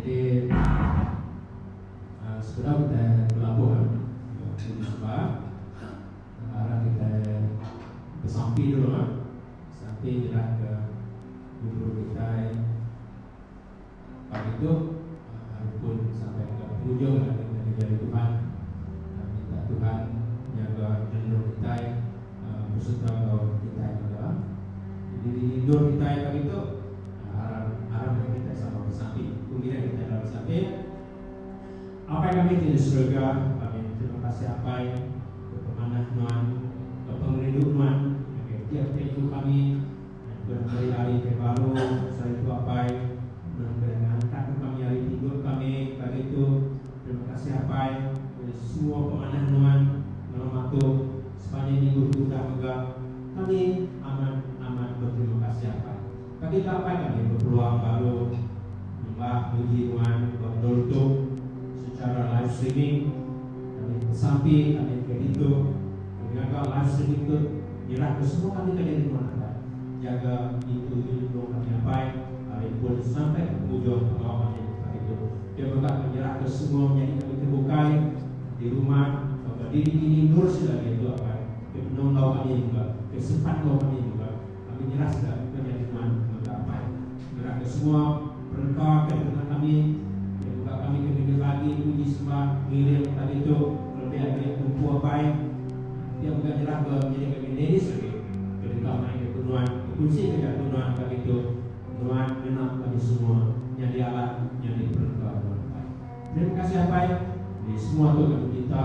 Jadi sebedau kitai belabur ti di suba arak kitai besampi dulu lah sampi nyerah ke guru-guru kitai pagi tu aru pun sampai ke penghujung anak kitai ngereja ari Tuhan minta Tuhan nyaga nyendur kitai beserta enggau kitai mega. Jadi nyendur kitai pagi tu. Harap harap meh kitai sama bersapit. Ku kitai kitai enda bersapit. Apai kami ti di serega, kami beterima kasih Apai ke pemanah nuan, ke pengerindu nuan ngagai tiap tiap iku kami nyempena meri ari ke baru saritu Apai nang ke ngantak ke kami ari pinggut kami pagi tu terima kasih Apai ke semua pemanah nuan malam atu sepanjai minggu tu udah mega kami amat amat beterima kasih Apai. Kadi tau pan ami bepeluang baru nyembah muji Nuan ba endur tu sechara live streaming. Kami besampi kami ke ditu ke nyaga live streaming tu nyerahka semua kami ke nyadi Nuan Adat jaga ditu ti nulung kami apai ari empun sampai ke pengujung pengawa kami hari tu. Dia mega ke nyerahka semua menyadi kami ti bukai di rumah tauka diri-diri endur sida diatu apai ke endur enggau kami mega ke sempat enggau kami mega. Kami jelas ga muka nyadi nuan enggau ga apai ngera ke semua perengka ke dikena kami iya mega kami ke ngenyel agi puji sembah ngiring pagi tu kelebih agi empu apai iya mega nyerah ke nyadi kami ladies agi ke deka mai ke ku nuan bekunsi ke jaku nuan pagi tu nuan ngena kami semua nyadi alat nyadi perengka nuan apai terima kasih apai ni semua tu kami minta.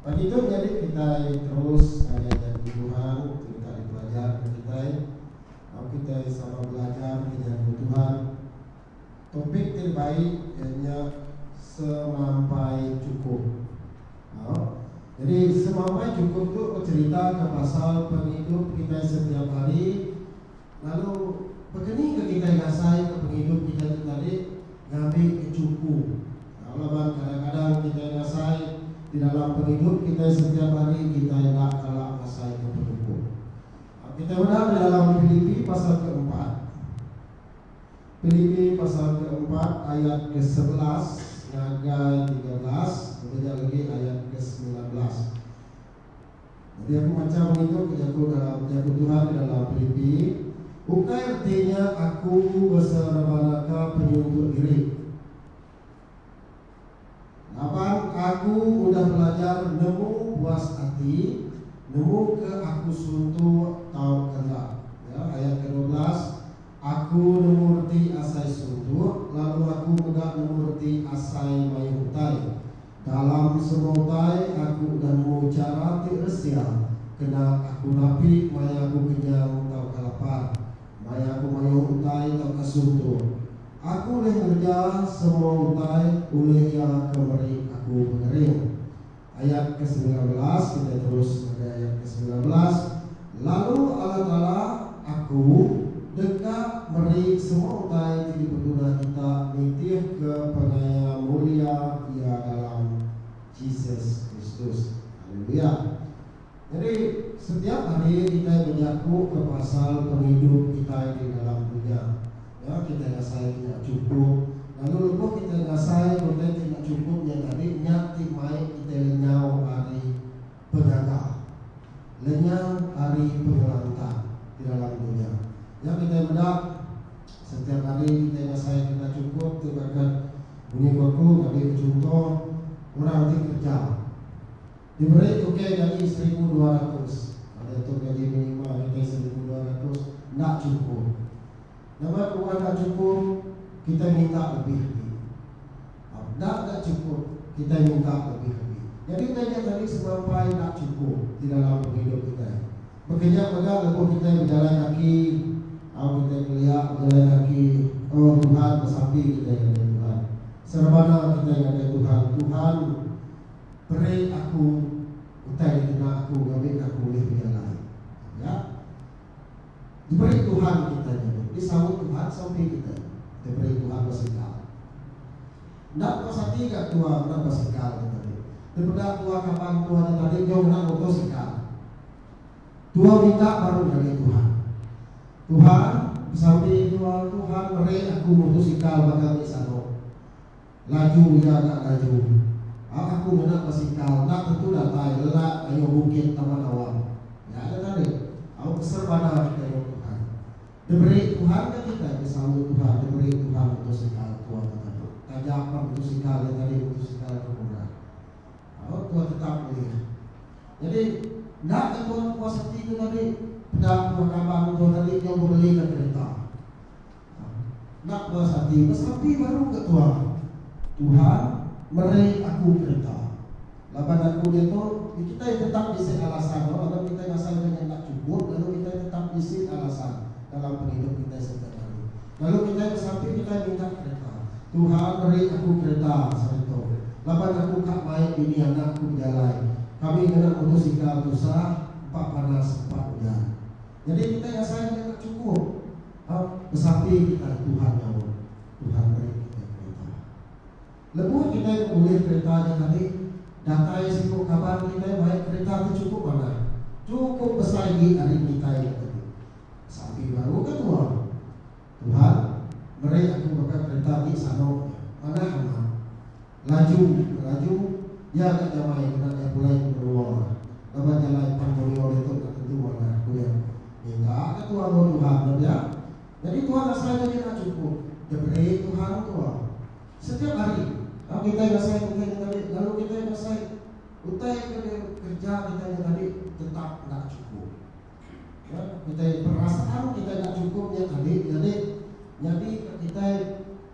Pagi tu nyadi kitai terus ngagai Janji Tuhan ti deka dipelajar ke kitai. Au kitai sama belajar penyanyung Tuhan. Topik ti dibai iya nya Semampai Chukup. Au. Nyadi Semampai Chukup tu becheritaka pasal pengidup kitai setiap hari. Lalu pekeni ke kitai ngasai ke pengidup kitai tu tadi ngambi ke chuku. Tau laban kadang-kadang kitai ngasai di dalam pengidup kitai setiap hari kitai enda kala ngasai ke penyukup. Tau kitai meda di dalam Pilipi pasal ke empat. Pilipi pasal ke empat ayat ke sebelas ngagai tiga belas, bebeja legi ayat ke semilan belas. Enti aku macha pengidup ke jaku ke jaku Tuhan di dalam Pilipi, ukai reti nya aku beserebanaka penyuntuk diri. Laban aku udah belajar nemu puas ati, nemu ke aku suntuk tauka enda. Ya, ayat ke dua belas, Aku nemu reti asai suntuk, lalu aku mega nemu reti asai mayuh utai. Dalam semerutai aku nemu chara ti resia kena aku napi maya aku kenyang tauka lapar, maya aku mayuh utai tauka suntuk. Aku ulih ngereja semua utai ulih Iya ke meri aku pengering. Ayat ke semilan belas, kitai terus ngagai ayat ke semilan belas. Lalu Allataala aku deka meri semua utai ti dipeguna kita nitihka pengaya mulia Iya dalam Jesus Kristus. Haleluya! Nyadi, setiap hari kitai bejakuka pasal pengidup kitai di dalam dunya. Ya, kitai ngasai ti enda chukup, lalu lebuh kitai ngasai utai ti enda chukup nya tadi, nya ti mai kitai lenyau ari. penyaga lenyau ari pengelantang ti dalam dunya. Nya kitai meda setiap hari kitai ngasai kena chukup ti berakat munyi ko aku nyadi bechunto orang ti kerja diberi tukey gaji seribu dua ratus pada tu gaji minima kitai seribu dua ratus enda chukup. Nama kebuah enda chukup kitai minta lebih agi. Tau enda ga chukup, kitai minta lebih agi. Nyadi utai nya tadi semampai enda chukup ti dalam pengidup kitai. Baka nya mega lebuh kitai bejalai kaki, tau kitai kelia bejalai kaki, oh Tuhan besapi kitai ngagai Tuhan. Serebana kitai ngagai Tuhan, Tuhan, beri aku utai dikena aku ngambika aku ulih bejalai. Tau nya? Diberi Tuhan kitai nyadi. Di saut Tuhan sampi kitai. Diberi Tuhan basikal. Enda puas ati ga tua meda basikal nya tadi. Dipeda tua kaban tua nya tadi enggau ngena motor sikal. Tua minta baru nyadi Tuhan. Tuhan, besampi tua, Tuhan meri aku motor sikal baka ti sano. Laju iya enda ngaju. Au aku ngena basikal enda tentu datai lelak kayuh bukit tama dawa. Nya nya tadi. Au keser banar kayuh Tuhan. Diberi Tuhan ka kitai ke saut Tuhan diberi Tuhan mutosikal tua tetap. Taja pan mutosikal nya tadi mutosikal ke murah. Au tua tetap ulih. Nyadi enda ka tua ke puas ati ke tadi peda tua kaban tua tadi nyau bebeli ka kereta. Enda puas ati besampi baru ke Tuhan. Tuhan meri aku kereta. Laban aku diatu di kitai tetap bisi alasan no laban kitai ngasalka nya enda chukup lalu kitai tetap bisi alasan dalam pengidup kitai setiap hari. Lalu kitai besampi kitai minta kereta. Tuhan meri aku kereta sehari tu. Laban aku ka mai bini anak ku bejalai. Kami ngena motosikal tusah empa panas empa ujan. Nyadi kitai asai mega deka chukup ba besampi kitai Tuhan nyaut, Tuhan meri kitai kereta. Lebuh kitai bebulih kereta nya tadi, datai siku kaban kitai mai kereta ti chukup manah, chukup besai agi ari kitai nya tadi. Besampi baru ke tua? Tuhan, meri aku baka kereta ti sano nya, manah amat. Laju, laju, iya ka jamai ngena iya pulai ke menua laban jalai pan Murio ditu enda tentu manah, ku iya. Minta ka tua enggau Tuhan ba pia. Nyadi Tuhan asai nyadi enda chukup. Depre Tuhan tua. Setiap hari, tang kitai ngasai ke utai nya tadi lalu kitai ngasai utai ke dikereja kitai nya tadi tetap enda chukup. Ya, kitai perasaan kitai enda chukup nya tadi nyadi nyadi ka kitai.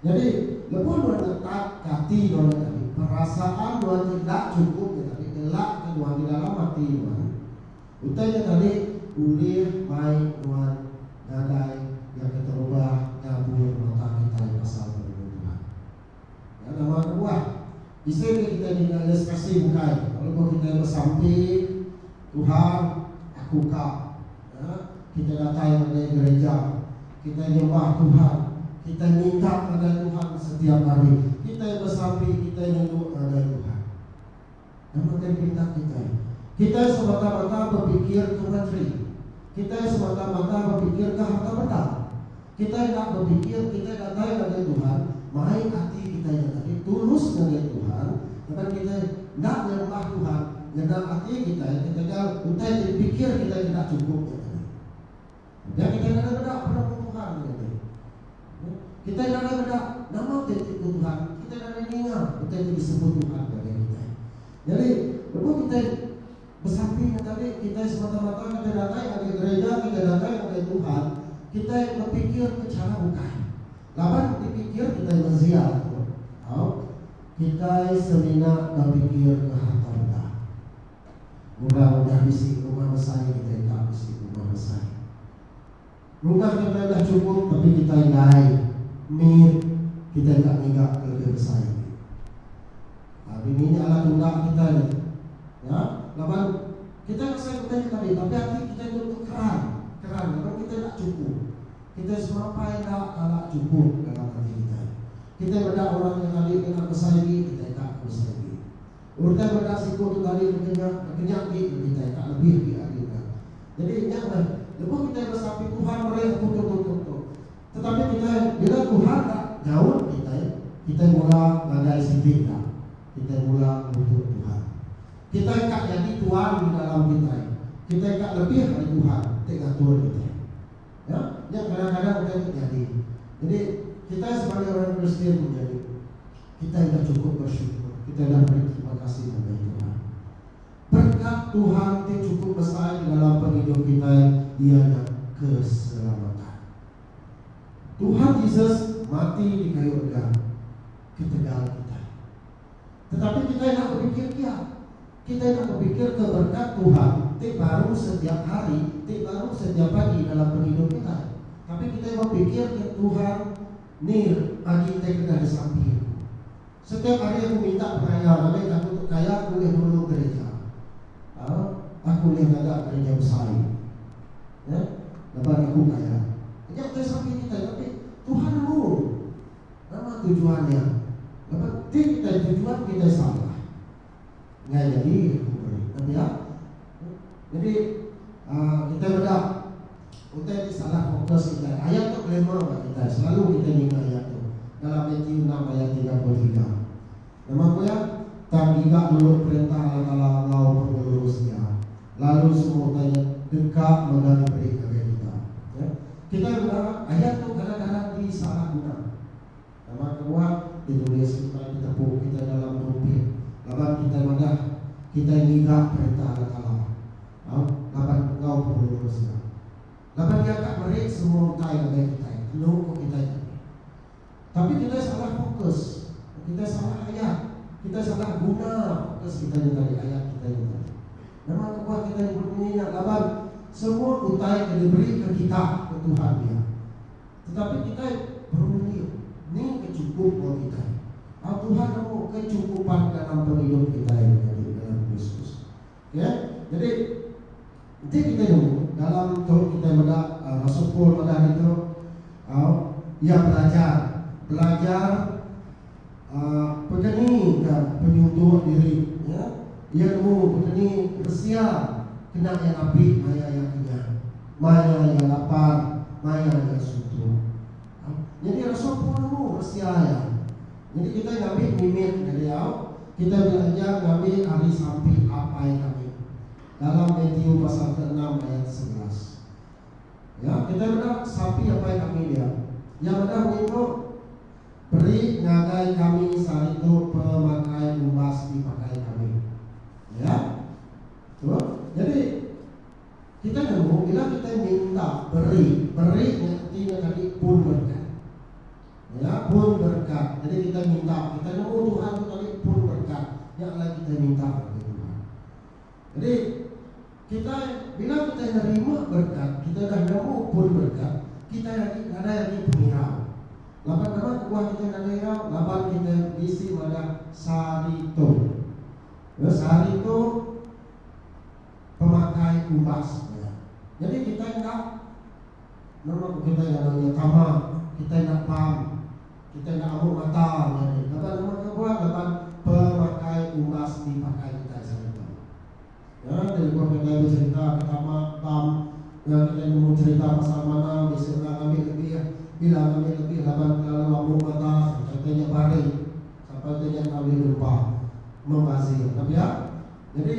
Nyadi, lebuh nuan ngetap ke ati nuan nya tadi, perasaan nuan ti enda chukup nya tadi ngelakka nuan di dalam ati nuan. Utai nya tadi ulih mai nuan ngagai iya ke terubah ngabur mata kitai pasal penemu Tuhan. Nya nama kebuah? Bisi meh kitai ninga iya sekasih bukai lalu ko kitai besampi Tuhan aku ka nya kitai datai ngagai gereja kitai nyembah Tuhan kitai minta ngagai Tuhan setiap hari kitai besampi kitai nyenuk ngagai Tuhan nama ke pinta kitai kitai semata-mata bepikir ke materi kitai semata-mata bepikir ke harta benda. Kitai enda bepikir kitai datai ngagai Tuhan mai ati kitai nya tadi tulus ngagai Tuhan laban kitai enda nyembah Tuhan ngena ati kitai ketegal utai ti dipikir kitai enda chukup nya tadi. Pia kitai nadai meda penemu Tuhan nya tadi. Kitai nadai meda nama ti ditu Tuhan, kitai nadai ninga utai ti disebut Tuhan ngagai kitai. Nyadi lebuh kitai. Besampi nya tadi, kitai semata-mata ngagai datai ngagai gerija ngagai datai ngagai Tuhan, kitai bepikirka chara bukai. Laban dipikir kitai menzia tu, tau, kitai semina bepikirka harta benda. Orang udah bisi rumah besai kitai enda bisi rumah besai. Rumah kita udah chukup tapi kita indai mit kitai enda ngiga ke lebih besai agi. Aa bini nya alah tunda kitai nya tu. Nya laban kitai masai utai nya tadi tapi ati kitai nya tu keran, keran laban kitai enda chukup. Kitai semampai enda kala chukup dalam ati kitai. Kitai meda orang nya tadi kena besai agi kitai enda ke besai agi. Utai meda siku tu tadi mega nya baka nya agi nya kitai ka lebih agi agi nya. Nyadi nya meh lebuh kitai besapi Tuhan meri aku tu tu tu tu. Tetapi kitai bila Tuhan ka nyaut kitai, kitai mula ngagai siti enda. Kitai mula ngutuk Tuhan. Kitai ka nyadi tuan di dalam kitai. Kitai ka lebih ari Tuhan ti ngatur kitai. Ya, nya kadang-kadang utai tu nyadi. Nyadi kitai sebagai orang Kristian tu nyadi. Kitai enda chukup bersyukur. Kitai enda meri terima kasih ngagai Tuhan. Berkat Tuhan ti chukup besai di dalam pengidup kitai iya nya keselamatan. Tuhan Jesus mati di kayu rega ketegal kitai. Tetapi kitai enda bepikir iya. Kitai enda bepikirka berkat Tuhan ti baru setiap hari, ti baru setiap pagi dalam pengidup kitai. Tapi kitai bepikirka Tuhan. Nir, Agi te kedah disampi aku. Setiap hari aku minta pengaya ngagai ke aku tu kaya aku ulih nulung gerija. Au, aku ulih ngaga gerija besai. Ya, laban aku kaya. Nya udah disampi kitai, tapi Tuhan nulung. Nama tujuan nya? Laban ti kitai tujuan kitai salah. Nya jadi mengeri. Kati iya? Jadi uh, kita meda utai ni salah fokus kita. Ayat tu glamour bagi kita. Selalu kita ninga ayat tu. Dalam Matthew 6 ayat 33. Nama ku ya? Tang giga dulu perintah Allah Taala enggau pengelurus dia. Lalu semua utai deka mega diberi ngagai kita. Ya? Kita meda ayat tu kadang-kadang disalah guna. Laban kebuah ti nulis kitai betepu kitai dalam rumpit laban kitai madah kitai ngiga Perintah Allah Taala tau laban enggau pengelulu Masia. Laban Iya ka meri semua utai ngagai kitai enu ko kitai tadi. Tapi kitai salah fokus, kitai salah ayat, kitai salah guna fokus kitai nya tadi, ayat kitai nya tadi. Nama kebuah kitai nyebut munyi nya laban semua utai ke diberi ke kita ko Tuhan iya. Tetapi kitai perlu nengih ni ke chukup enggau kitai. Tang Tuhan nemu kechukupan dalam pengidup kitai menyadi dalam Kristus. Okey. Nyadi enti kitai nemu dalam tu kitai meda rasul Paul madah ditu, au, iya belajar, belajar Peteni ke penyuntuk diri nya, iya nemu peteni resia kena iya napi maya iya kenyah, maya iya lapar, maya iya suntuk. Nyadi rasul Paul nemu resia iya. Nyadi kitai ngambi mimit ngediau, kitai belajar ngambi ari sampi Apai kami dalam Matiu pasal ke enam ayat sebelas. Ya, kitai meda sampi Apai kami dia. Iya meda ngintu. Peri ngagai kami saritu pemakai umbas ti pakai kami. Ya. Tu. Jadi, kitai nemu bila kitai minta peri, peri nya enti nya tadi pun berkat. Ya, pun berkat. Jadi kitai minta, kitai nemu Tuhan tu tadi pun berkat. Nya alai kitai minta ngagai Tuhan. Jadi kitai bila kitai nerima berkat, kitai udah nemu pun berkat, kitai agi nadai agi pengirau. Laban nama kebuah kitai nadai irau? Laban kitai bisi madah sehari tu. Ya, sehari tu pemakai umbas. Ya. Jadi kitai enda nama kitai ngaran iya tama, kitai enda pam. Kita enda amuk mata nyadi laban rumah kebuah laban pemakai umbas ti pakai kitai sehari tu. Nya telefon kitai becherita ke tama bam enggau kitai nemu cherita pasal manang bisi orang ngambi lebih bila ngambi lebih laban kelalu amuk mata sampai te nya bari sampai te nya enggau ulih numpa membazir. Ka pia? Nyadi.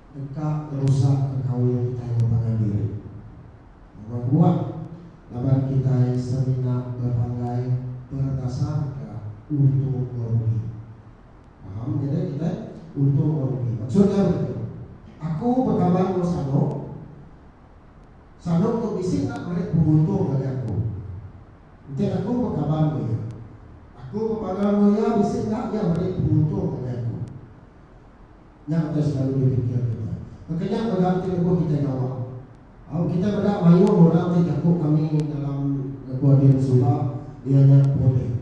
Deka ngerusak ke kaul kitai enggau pangan diri. Nama buah laban kitai semina bepanggai berdasarka untung ngerugi. Paham nya deh kitai, untung ngerugi. Maksud nya begitu. Aku bekaban enggau Sanok. Sanok tu bisi enda meri penguntung ngagai aku. Enti aku bekaban enggau iya. Aku bepangau enggau iya bisi enda iya meri penguntung ngagai aku. Nya utai selalu dipikir kita. Baka nya mega ti lebuh kitai gawa. Au kitai meda mayuh orang ti jaku kami dalam lebuh din suba iya nya pulih.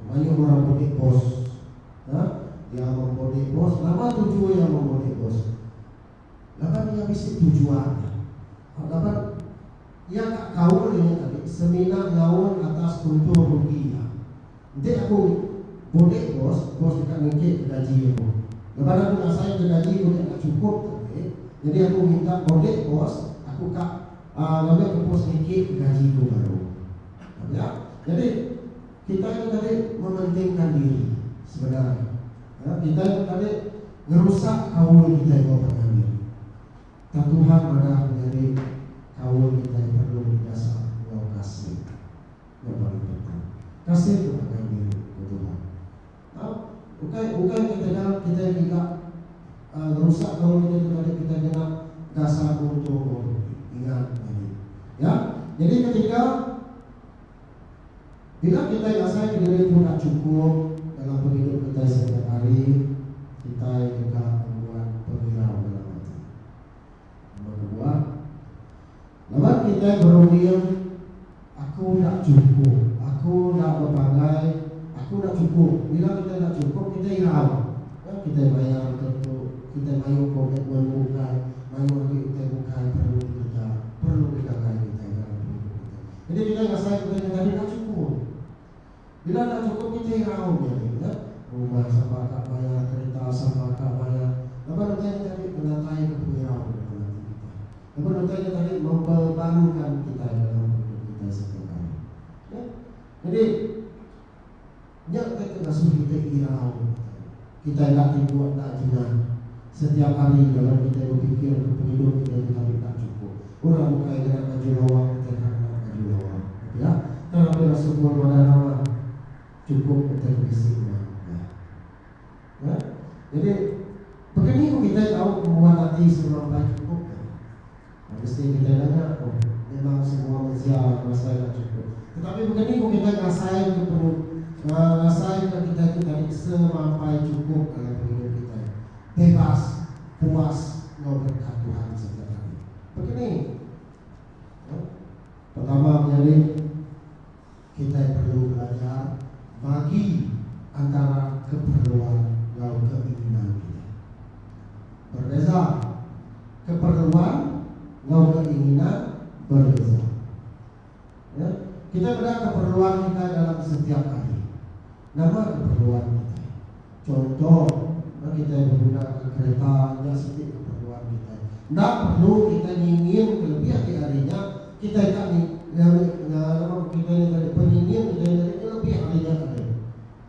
Mayuh orang pulih bos. Ka, iya mempulih bos. Nama tuju iya mempulih bos? Laban iya bisi tujuan. Au laban iya ka kaul inya tadi semina ngaul atas untung rugi iya. Enti aku bulih bos, bos deka nengkit ke gaji aku. Laban aku ngasai ke gaji ku nya enda chukup tadi, nyadi aku minta bulih bos aku ka ngambi ke bos nengkit ke gaji ku baru. Tau nya? Nyadi kitai tu tadi mementingka diri sebenar. Aa kitai tu tadi ngerusak kaul kitai enggau pengangi. Tang Tuhan madah menyadi kaul kitai perlu didasar enggau kasih. nya paling penting. Kasih tu ngagai diri, ku Tuhan. Tau? Ukai, ukai kitaga kitai ngiga uhh ngerusak gaul kitai tu tadi kitai ngena dasar kultur gaul tu. Ingat nyadi. Ya. Nyadi ketiga, bila kitai ngasaika diri tu enda chukup dalam pengidup kitai setiap hari, kitai deka ngembuan pengirau dalam ati. Nambah kebuah. Laban kitai berunding, Aku enda chukup. Aku enda bepanggai. Aku enda chukup. Bila kitai enda chukup, kitai irau. Nya kitai mayar untuk tu. Kitai mayuh komitmen bukai. Mayuh agi utai bukai perlu dikereja, perlu digagai kitai dalam pengidup kitai. Jadi kitai ngasai kitai nya tadi enda chukup. Bila enda chukup kitai raum nya deh nya, rumah sama ka bayar, kereta sama ka bayar, laban utai nya tadi menatai ke pengirau ke dalam ati kitai. Laban utai nya tadi membebankan kitai dalam pengidup kitai setiap hari. Neh. Nyadi, nya ke ke ngasuh kitai irau utai nya. Kitai enda tibuk enda jengah setiap hari laban kitai bepikirka pengidup kitai ti tadi enda chukup. Orang bukai ngena baju lawa kitai ka ngena baju lawa. Pia tang Raban Rasul Paul madah nama chukup utai bisi mak ai. Nah, jadi, baka ni ku kitai tau ngembuan ati sengelampai chukup? Mesti kitai nanya ko, memang semua mensia ngasai ka cukup. Tetapi baka ni ko kitai ngasai ke perut, ngasai ka kitai tu tadi semampai cukup dalam pengidup kitai, bebas, puas enggau berkat Tuhan sereta tadi. Baka ni? Pertama menyadi. kitai perlu belajar bagi antara keperluan enggau keinginan kitai. Berbeza, keperluan enggau keinginan berbeza. Ya, kitai meda keperluan kitai dalam setiap hari. Nama keperluan kitai? Chunto, ba kitai begunaka kereta, nya siti keperluan kitai. Enda perlu kitai nyinging kelebih agi ari nya. Kitai ka ni, nyari, nya, nama ko kitai ni tadi, penyinging kitai ni tadi kelebih ari nya tadi.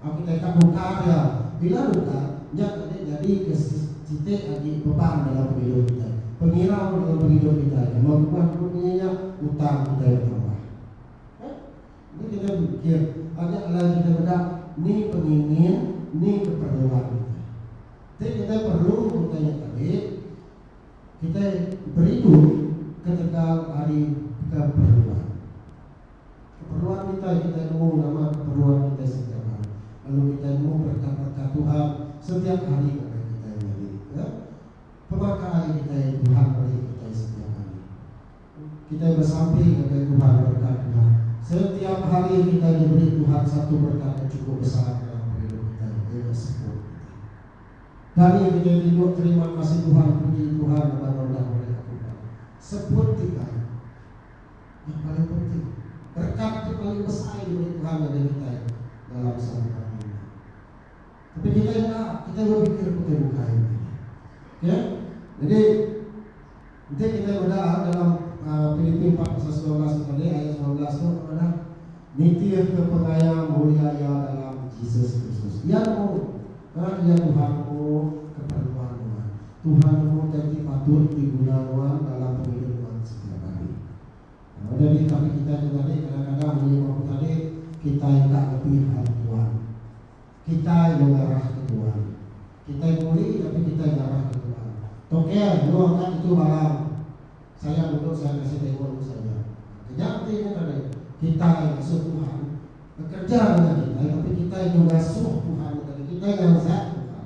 Au kitai ka nukar iya. Bila nukar, nya tadi nyadika si, siti agi beban dalam pengidup kitai. Pengirau dalam pengidup kitai. Nama kebuah dulu munyi nya? Utang kitai betambah. Kan? Ni kena mikir anya alai kitai meda ni pengingin, ni keperluan kitai. Ti kitai perlu utai nya tadi, kitai berindu ketegal ari keperluan. Keperluan kitai, kitai nemu nama keperluan kitai sedia baru lalu kitai nemu berkat-berkat Tuhan setiap hari ngagai kitai nyadi. Pemaka ari kitai Tuhan meri kitai setiap hari. Kitai besampi ngagai Tuhan berkat nya. Setiap hari kitai diberi Tuhan satu berkat ke chukup besar dalam pengidup kitai, iya nya sekul. Kani kitai ti duk terima kasih Tuhan puji Tuhan laban nulung ulih aku nya. Sekul kitai nya paling penting. Berkat ti paling besai diberi Tuhan ngagai kitai dalam saluran dunya. Tapi kitai enda, kitai bepikir pekeh bukai begini. Okey. Jadi enti kitai meda dalam Pilipi empat pasal sembilan belas tu tadi, ayat sembilan belas tu apa ngadah? Nitihka pengaya mulia iya dalam Jesus Kristus. Iya nemu kereb iya Tuhan nemu keperluan nuan. Tuhan nemu utai ti patut diguna nuan dalam pengidup nuan setiap hari. Udah dih tapi kitai tu tadi kadang-kadang ulih ba betadi kitai ka ngepi hari Tuan. Kitai lo ngarah ke Tuan. Kitai muli tapi kitai ngarah ke Tuan. Toker yo enda tentu barang. Sayang mudok saya ngasih tengo lu saja. Kenyap enti nya tadi kitai ngasuh Tuhan bekerja nengah kitai tapi kitai yo ngasuh Tuhan nya tadi kitai nganjak Tuhan.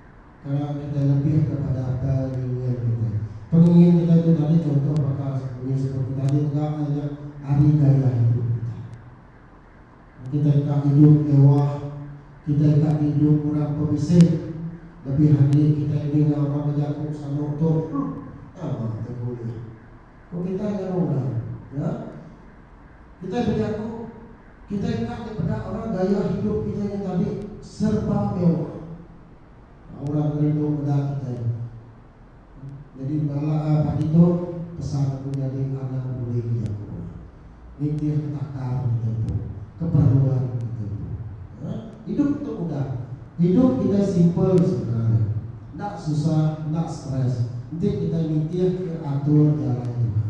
Kala kitai lebih kepada akai ningin kitai. Pengingin kitai tu tadi contoh baka munyi seperti tadi mega ai nya ari gaya hidup kitai. Mun kitai ka idup mewah, kitai ka diidup orang pebisik, lebih agi kitai ninga orang bejaku sano tu, huh, nama te bulih. Ku kitai ngagai orang, nya. Kitai bejaku, kitai enda meh peda orang gaya hidup kitai nya tadi serba mewah. Ba orang ngeri tu meda kitai. Nyadi bala pagi tu pesan aku nyadi anak peduli ke jaku nya. Nitih ke takar kita empu, keperluan kita empu. Nah, hidup tu mudah. Hidup kitai simple sebenar nya. Enda susah, enda stress enti kitai nitih ke atur jalai Tuhan.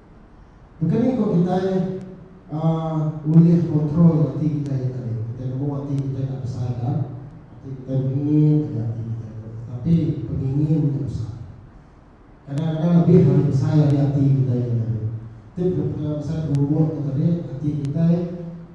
Baka ni ko kitai ulih kontrol ati kitai nya tadi. Kitai nemu ati kitai enda besai ga, ati kitai bengingin aja ati kitai tu. Tetapi pengingin nya besai. Kadang-kadang lebih ari besai ari ati kitai nya tadi. Ti pekara besai berumur tu tadi ati kitai.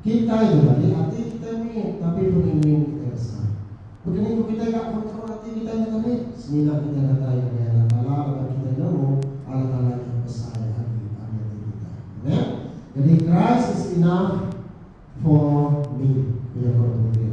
Kitai nyadi ati kitai mit tapi peningin kitai besai. Baka ni ku kitai ga kontrol ati kitai nya tadi? Semina kitai datai ngagai Allah Taala laban kitai nemu Allah Taala nya besai agi ari ati kitai. Amen. Jadi Christ is enough for me ku iya ku orang Putih.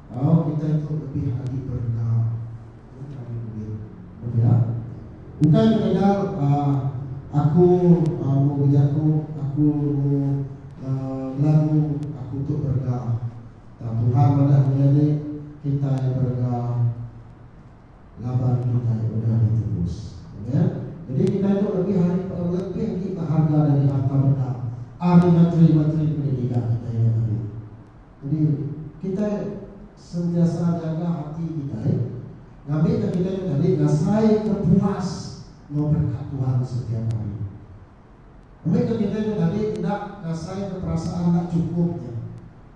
Tau kitai tu lebih agi berenda laban kami meri. Betul ya. Ukai bekadang aaa aku mbuh bejaku, aku mbuh aaa belagu aku tu berenda. Tang Tuhan madah maya ni kitai berenda laban kitai udah ditebus. Amen. Jadi kitai tu lebih ari lebih agi beharga dari harta benda ari menteri-menteri pendidikan kitai nya tadi. Jadi kitai sentiasa nyaga ati kitai ngambika kitai ke tadi ngasai ke puas enggau berkat Tuhan setiap hari. Ngambika kitai ke tadi enda ngasai ke perasaan enda chukup nya.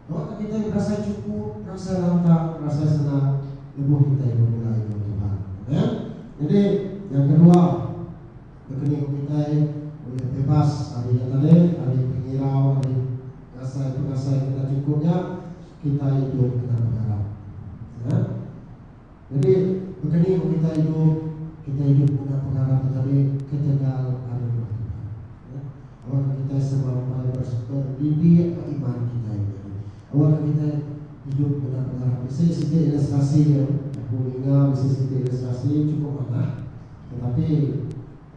Ngambika kitai berasai chukup, berasai lantang, berasai senang lebuh kitai begulai enggau Tuhan. Amen. Jadi, yang kedua, Nekeni ku kitai ulih bebas ari nya tadi, ari pengirau, ari pengasai-pengasai ke enda chukup nya, kitai idup kena pengarap. Nah, jadi nekeni ku kitai idup, kitai idup ngena pengarap nya tadi ketegal ari rumah Tuhan. Nah, awak ke kitai sama rambai berdidik ba iman kitai nya tadi. Awak ke kitai idup ngena pengarap. Bisi siti ilustrasi, aku ninga bisi siti ilustrasi chukup manah. Tetapi,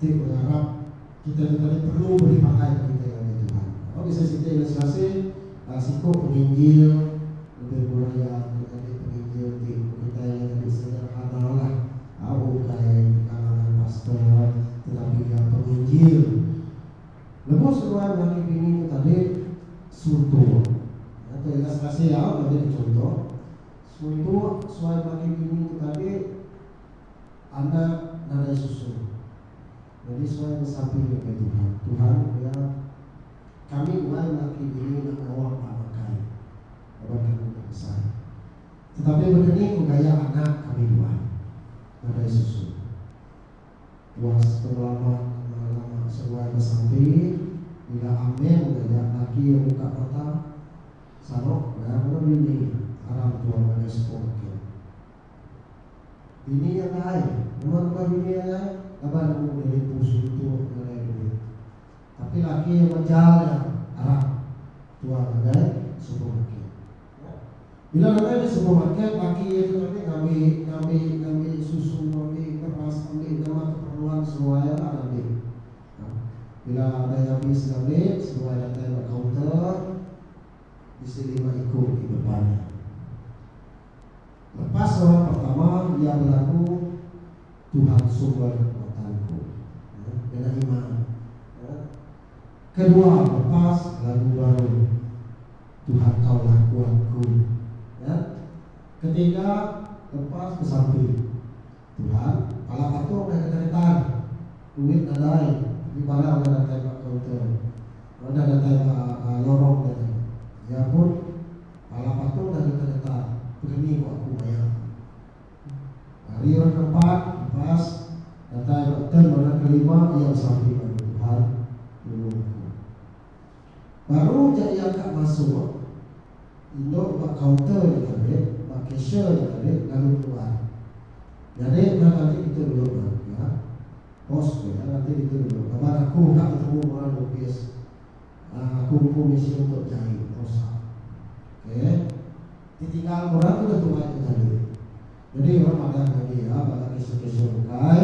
ti bengarap, kita tu tadi perlu beri pangan ke kita ngagai Tuhan. Ba bisi siti ilustrasi, siku penginjil, lebih kurang iya tu tadi penginjil ti ku kitai iya tadi sederhanalah, ukai di kalangan pastor tetapi iya penginjil. Lebuh seduai lelaki bini tu tadi suntuk, iya tu ilustrasi iya, majadi chunto, suntuk suai lelaki bini tu tadi. Anak nadai susu. Nyadi suai besapi ngagai Tuhan. Tuhan pia, Kami muai laki bini enda ngawa ba bangkai laban kami enda besai. Tetapi bekeni ko gaya anak kami duai nadai susu. Puas pengelama lama-lama seruai besapi bila Amin ngajar laki iya buka mata, Sanok, pia ngena bini aram tua ngagai sekul kin. Bini nya pai nemu nukai bini iya nya laban nemu iya nipu sedutu ngagai duit. Tapi laki iya mejal iya arap tua ngagai supermarket. Nya. Bila ngagai di supermarket, laki iya tu tadi ngambi, ngambi, ngambi susu, ngambi beras, ngambi nama keperluan seruai iya lah ngambi. Nah, bila udah ngambi sida meli, seruai datai ba kaunter, bisi lima iku di depan iya. Lepas orang pertama iya belaku Tuhan sumber kekuatan ku. Ngena iman. Kedua lepas lagu baru Tuhan tau lah kuat ku. Ketiga lepas besampi. Tuhan, pala patok meh ke datai. Duit nadai, tapi barang udah datai ba kaunter. Ba udah datai ba lorong tadi. Iya pun, pala patok dah deka datai, pekeni ku aku maya tu. Hari orang keempat, lepas, datai ba turn orang kelima iya besampi madu, Tuhan, tulung aku. Baru ja iya ka masuk, indu ba kaunter nya tadi, ba cashier nya tadi lalu keluar. Nyadi udah ngaji ditu dulu bah iya. Bos ku iya ngaji ditu dulu laban aku ka betemu orang opis. Nah, aku empu misi untuk jai, Rosa. Okey. Ti tinggal orang udah tuai ke tadi. Nyadi orang madah ngaji iya bala cashier-cashier bukai.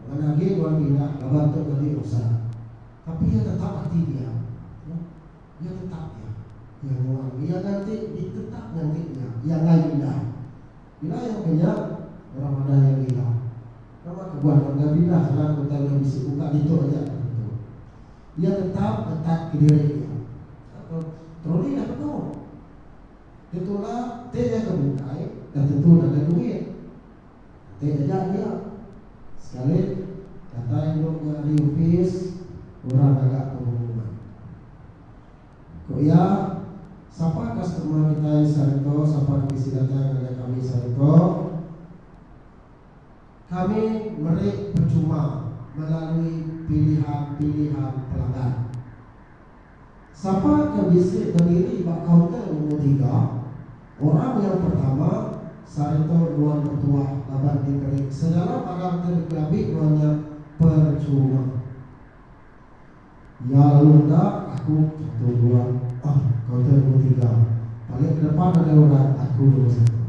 Ngan agi nuan pindah laban tu ngaji Rosa. Tapi iya tetap ati nya. Nah, iya tetap nya. Iya nuan. Iya nganti di tetap nganti nya. Iya enggai pindah. Bila iya ke nya, orang madai iya gila. Nama kebuah nuan enggai pindah anak ke utai meh bisi buka ditu aja ka tentu. Iya tetap ngetat ke diri iya. Apa, Troli dah penuh. Ditulak, ti nya ke bukai, dah tentu nadai duit. Enti eda nya, sekali datai endur nya ari opis orang ngaga pengumuman. Ku iya, Sapa customer kitai sehari tu sapa ti bisi datai ngagai kami sehari tu, kami meri percuma melalui pilihan-pilihan pelanggan. Sapa ke bisi bediri ba kaunter nombor tiga, orang nyau pertama, sareta nuan betuah laban diberi segala barang ke dikelambi nuan nya perchuma. Iya lalu meda, Aku tentu nuan, Ong, kaunter nombor tiga, paling kedepan nadai orang, aku nombor satu.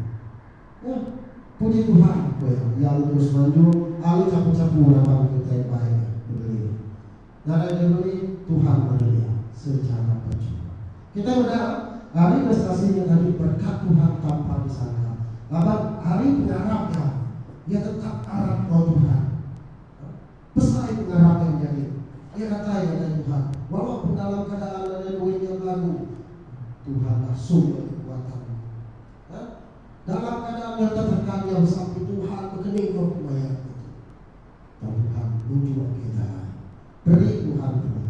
Ong, puji Tuhan, ku iya, iya lalu terus manjung, lalu chapu-chapu raban kitai empai nya, bediri. ngagai Germany Tuhan meri iya sechara percuma. Kitai meda ari ilustrasi nya tadi berkat Tuhan tampa disangka laban ari pengarap iya, iya tetap arap enggau Tuhan. Besai pengarap iya menyadi. Iya datai ngagai Tuhan walaupun dalam keadaan nadai duit iya belagu. Tuhan langsung meri kekuatan iya. Dalam keadaan nyata tekan iya besampi Tuhan bekening enggau pemaik iya tu. Tang tang nuju agi jalai. Beri Tuhan tuai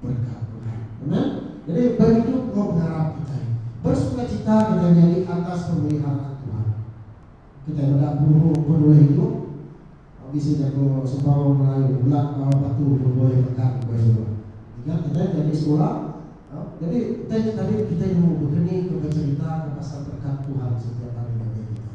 berkat Tuhan. Amen. Jadi beridup enggau pengarap kitai. Bersukacita kitai nyadi atas pemeliharaan Tuhan. Kitai meda penuru penulih idup. Bisi jaku sembaroh Melayu, Belak bawa batu nuboi megang ke suba. Ingat kitai nyadi sekula. Jadi utai nya tadi kitai nemu bekeni ke becerita ke pasal berkat Tuhan setiap hari ngagai kitai.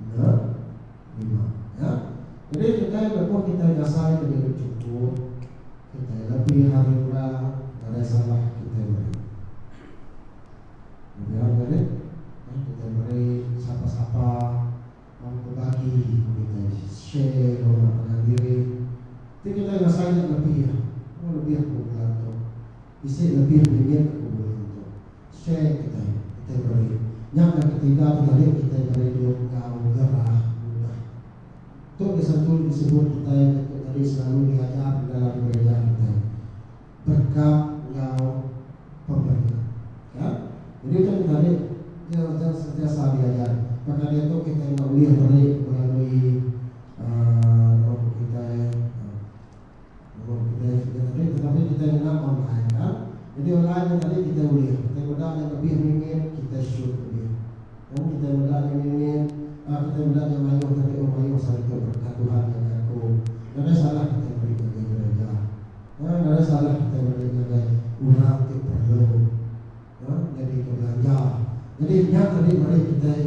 Enda nerima. Nya. Jadi kitai lebuh kitai ngasai ke diri chungkut, kitai lebih ari orang ngagai salah kitai meri. Lebih ari ngagai eh kitai meri sapa-sapa tang bebagi ku kitai, share enggau orang ngagai diri. Ti kitai ngasai nya lebih. Mung lebih ku bulan tu. Bisi lebih limit aku bulih nyentuk. Share kitai. Kitai beri. Nya dah ketiga ti tadi kitai beri dulu enggau gerah mudah. Tu di satu di sebut kitai ke tu tadi selalu di ajar di dalam gereja kitai. Berkat enggau pemeri. Ka. Jadi utai ti tadi ke ujang sentiasa di ajar. Baka diatu kitai enda ulih meri melalui uhh nama ku kitai uhh. Nulung kitai sida tadi tetapi kitai ngena online kan. Nyadi online nya tadi kitai ulih kitai meda nya lebih mimit kitai shoot lebih kan kitai meda nya mimit a kitai meda nya mayuh tapi meh mayuh selalu nya berkat Tuhan nya jaku. Nadai salah kitai meri ngagai gereja. Nadai salah kitai meri ngagai orang ti perlu. Ke nyadi ke belanja. Nyadi nya tadi meri kitai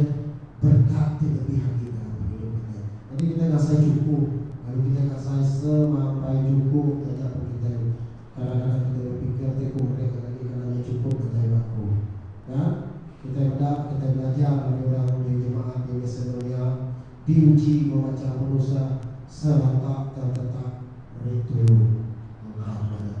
berkat ti lebih agi dalam pengidup kitai. Nyadi kitai ngasai chukup lalu kitai ngasai semampai chukup taja pun kitai. Kadang kadang kitai bepikir ti ku meri nya tadi kena nya chukup ngagai ba aku. Nya kitai meda kitai belajar ngagai orang di jemaat di Macedonia diuji bemacha penusah sereta tertetap meri tulung. Mengkang badak.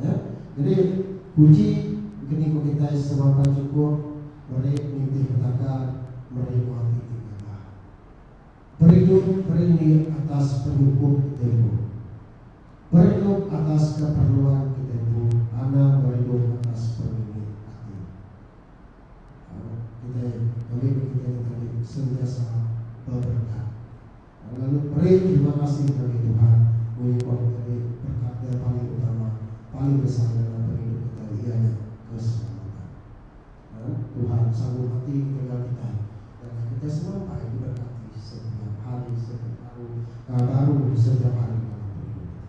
Ya, jadi puji engkeni ku kitai sebaka chukup meri nitih belaka, meri buah ti tegaga. Beridup berindik atas penyukup kitai empu. Beridup atas keperluan kitai empu anang beridup atas pengindik ati. Au, kitai, kami ku kitai nitih agi sentiasa beberekat. Lalu peri terima kasih ngagai Tuhan ulih nyuah ngambi perkata paling utama, paling besar ngena pengidup kitai iya nya keselamatan. Nah, Tuhan sanggup ati ngetegal kitai ngagai kitai semampai diberkati setiap hari, setiap baru ka baru setiap hari dalam pengidup kitai.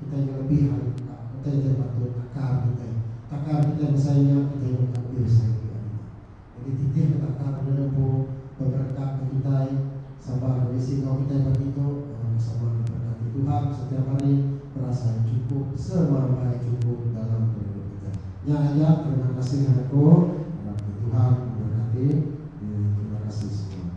Kitai ke lebih ari enda, utai kitai patut takar kitai. Takar kitai besai nya kitai nyungka lebih besai mega nya. Jadi titih ke takar enda nempu beberekat ke kitai sabar enda bisi enggau kitai pagi tu. Orang ke sabar diberekati Tuhan setiap hari berasai chukup semampai chukup dalam pengidup kitai. Nya aja terima kasih anak ku, harap ke Tuhan memberkati. Terima kasih semua.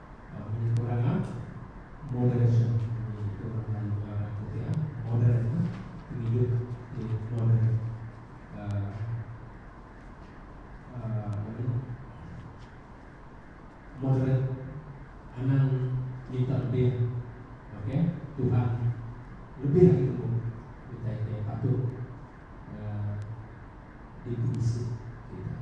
Penyempurna moderation ni tu orang Melayu ngarap aku ti ah modern ah pengidup ti modern aaa aaa apa ni moderate anang minta lebih ok Tuhan lebih ari tembu kitai ke patut aaa dipebisi kitai.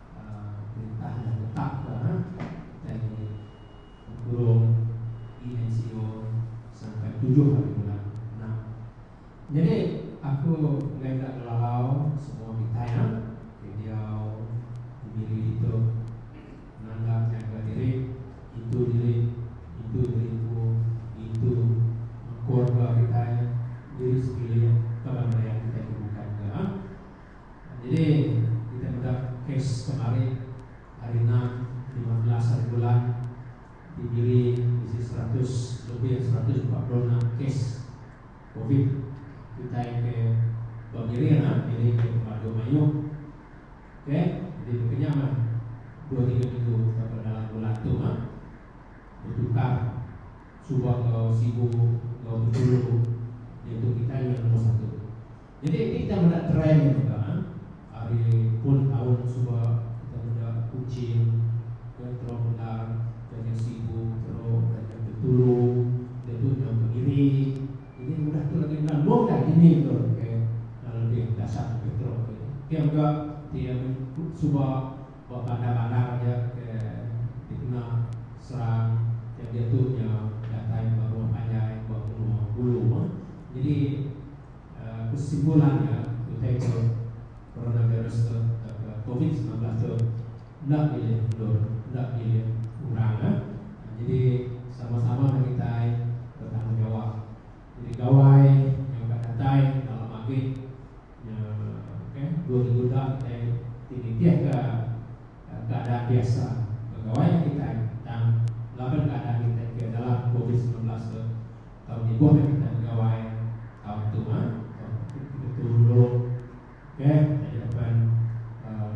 Perintah udah netapka utai nya di Tempurung ENCO serangkai tujuh ari bulan enam. Nyadi aku enggai enda ngelalau semua kitai nya ti diau di miri ditu nanda nyaga diri, ngintu diri, ngintu diri empu, ngintu keluarga kitai, diri sekeliling tauka merian kitai ke bukai mega. Nyadi kitai meda kes kemari hari ena lima belas hari bulan ti biri bisi seratus lebih seratus empat puluh enam kes covid kitai ke ba Miri nya biri ke pemadu mayuh ke nyadi baka nya mah dua tiga minggu tauka dalam bulan tu mah betukar suba enggau sibu enggau bepulu diatu kitai udah nombor satu. Jadi enti kita meda trend nya mega ari puluh taun suba kita meda Kuching ke teruk bendar kenyau Sibu teruk kenyau Bintulu diatu nyau Kemiri jadi udah tu lagi enda mung ka dini tu ke enda lebih dasat lebih teruk lagi pia mega enti amun suba ba bandar-bandar aja ke dikena serang nyau diatu nyau datai ba rumah panjai ba menua hulu jadi. Kesimpulan iya, utai tu, coronavirus tu tauka covid semilan belas tu enda milih endur, enda milih orang ah. Nyadi sama-sama meh kitai betanggungjawab. Nyadi gawai nyau ka datai dalam agi nya ke dua minggu da kitai ti nitihka keadaan biasa begawai kitai tang laban keadaan kitai ke dalam covid semilan belas tu. tau nibuh agi kita begawai tau betuma tau betulung okey jadi apan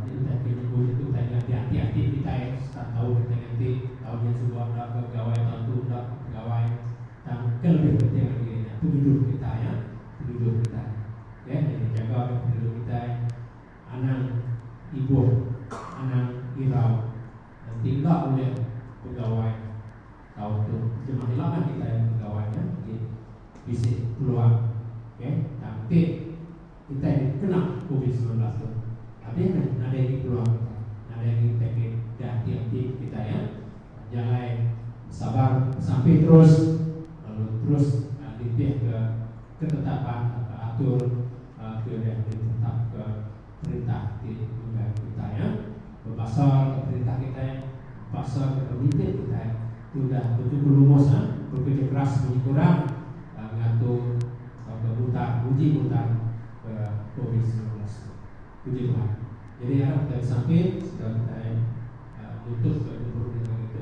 ni utai ke nibu nya utai ke ati ati ati kitai start tau kita nganti tau nya suba enda ke begawai tau tu enda ke begawai tang ke lebih penting agi iya nya pengidup kita ya pengidup kita okey jadi jaga ke pengidup kitai. anang ibuh anang irau enti enda ulih begawai tau tu jemah ila mah kitai begawai nya agi bisi peluang okay tang ti kitai dikena covid semilan belas tu abih meh nadai agi peluang kitai nadai agi kitai ke ke ati ati kitai ya nya alai besabar besampi terus lalu terus nitih ke ketetapan atur Ke udah ditetapka perintah ti megai kitai nya, bebasarka perintah kitai, bebasarka pemimpin kitai ti udah betuku lumus nya bekereja keras munyi kurang ngatur tauka mutar nguji mutar ke covid semilan belas tu. Puji Tuhan. Jadi arap kitai besampit sekeda kitai nutupka gempuru dengan ngitu.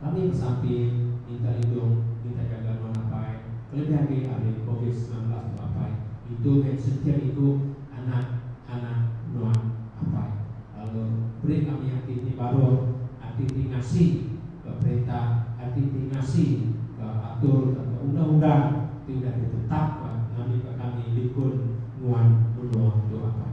Kami besampi minta lidung kitai ke gaga nuan apai kelebih agi ari covid semilan belas tu apai intu meh setiap iku anak anak nuan apai lalu beri kami ati ti baruh ati ti ngasi ke perintah ati ti ngasi ke atur ke ke undang undang ti udah ditetapka ngambika kami likun nuan menua tu apai.